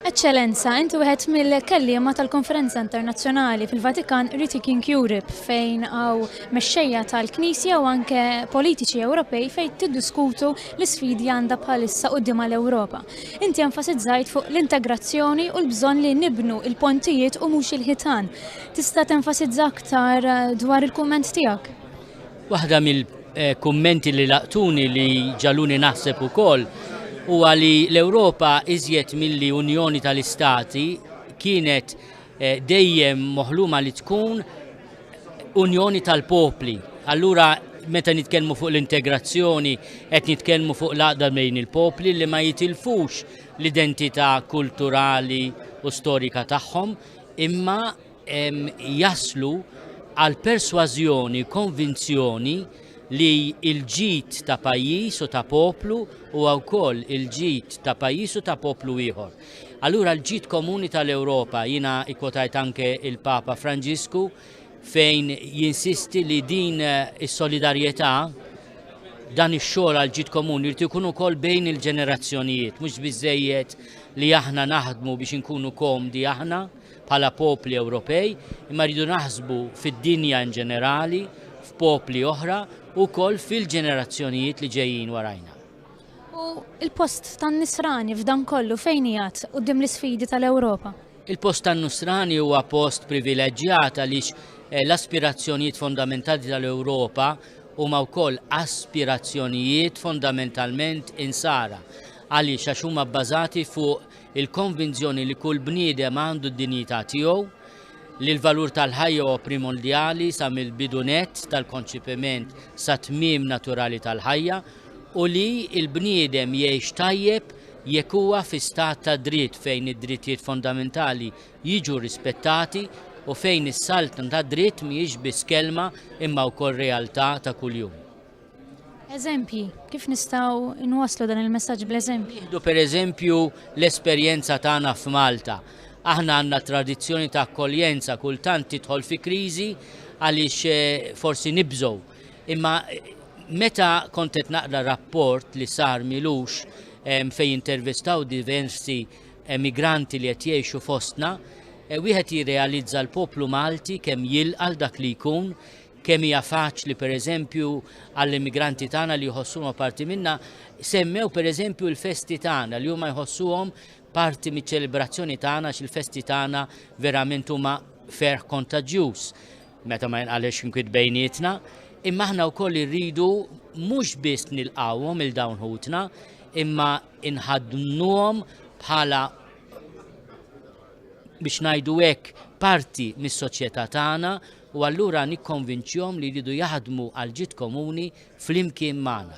Eċċellenza, inti wieħed mill-kelliema tal-Konferenza Internazzjonali fil-Vatikan Rethinking Europe fejn għaw mexxejja tal-Knisja u anke politiċi Ewropej fejn tiddiskutu l-isfidi għandha bħalissa quddiem għal Ewropa. Inti enfasizzajt fuq l-integrazzjoni u l-bżonn li nibnu il-pontijiet u mhux il-ħitan. Tista' tenfasizza aktar eh, dwar il-kumment tiegħek? Waħda mill-kummenti li laqtuni li ġaluni naħseb ukoll huwa li l-Ewropa iżjed milli Unjoni tal-Istati kienet eh, dejjem moħluma li tkun Unjoni tal-Popli. Allura meta nitkellmu fuq l-integrazzjoni qed nitkellmu fuq l-għaqda bejn il-popli li ma jitilfux l-identità kulturali u storika tagħhom imma jaslu għal persważjoni, konvinzjoni li l-ġid ta' pajjiż u ta' poplu huwa wkoll il-ġid ta' pajjiż u ta' poplu ieħor. Allura l-ġid komuni tal-Ewropa jiena ikkotajt anke il-Papa Franġisku fejn jinsisti li din is-solidarjetà dan ix-xogħol għal ġid komuni jrid ikun ukoll bejn il-ġenerazzjonijiet, mhux biżejjed li aħna naħdmu biex inkunu komdi aħna, bħala popli Ewropej, imma rridu naħsbu fid-dinja in ġenerali, f'popli oħra u wkoll fil-ġenerazzjonijiet li ġejjin warajna. U il-post tan-nisrani f'dan kollu fejn jgħat qudiem l-isfidi tal-Ewropa? Il-post tan-nusrani huwa post privileġġjat għaliex eh, l-aspirazzjonijiet fondamentali tal-Ewropa huma wkoll aspirazzjonijiet fondamentalment insara għaliex għax huma bbażati fuq il-konvinzjoni li kull bniedem għandu d-dinjità tiegħu, li l-valur tal-ħajja huwa primondjali sa mill-bidu nett tal-konċipiment sat-tmiem naturali tal-ħajja u li l-bniedem jgħix tajjeb jekk huwa fi stat ta' dritt fejn id-drittijiet fondamentali jiġu rispettati u fejn is-saltna tad-dritt mhijiex biss kelma imma wkoll realtà ta' kuljum. Eżempji, kif nistgħu nwasslu dan il-messaġġ bl-eżempji? Idu per eżempju l-esperjenza tagħna f'Malta. Aħna għandna tradizzjoni ta' akkoljenza kultant tidħol fi kriżi għaliex eh, forsi nibżgħu. Imma eh, meta kont qed naqra rapport li sar milux eh, fejn intervistaw diversi emigranti li qed jgħixu fostna, wieħed jirrealizza l-poplu Malti kemm jilqal dak li jkun Kemm hija faċli, pereżempju, għall-immigranti tagħna li jħossuhom parti minna, semmew pereżempju l-festi tagħna li huma jħossuhom parti miċ-ċelebrazzjoni tagħna għax il-festi tagħna verament huma ferħ kontaġġjuż meta ma jinqalilx inkwiet bejnietna, imma aħna wkoll irridu mhux biss nilqawhom il dawn ħutna, imma inħadnuhom bħala biex ngħidu hekk parti mis-soċjetà tagħna u allura nikkonvinċihom li jridu jaħdmu għall-ġid komuni flimkien magħna.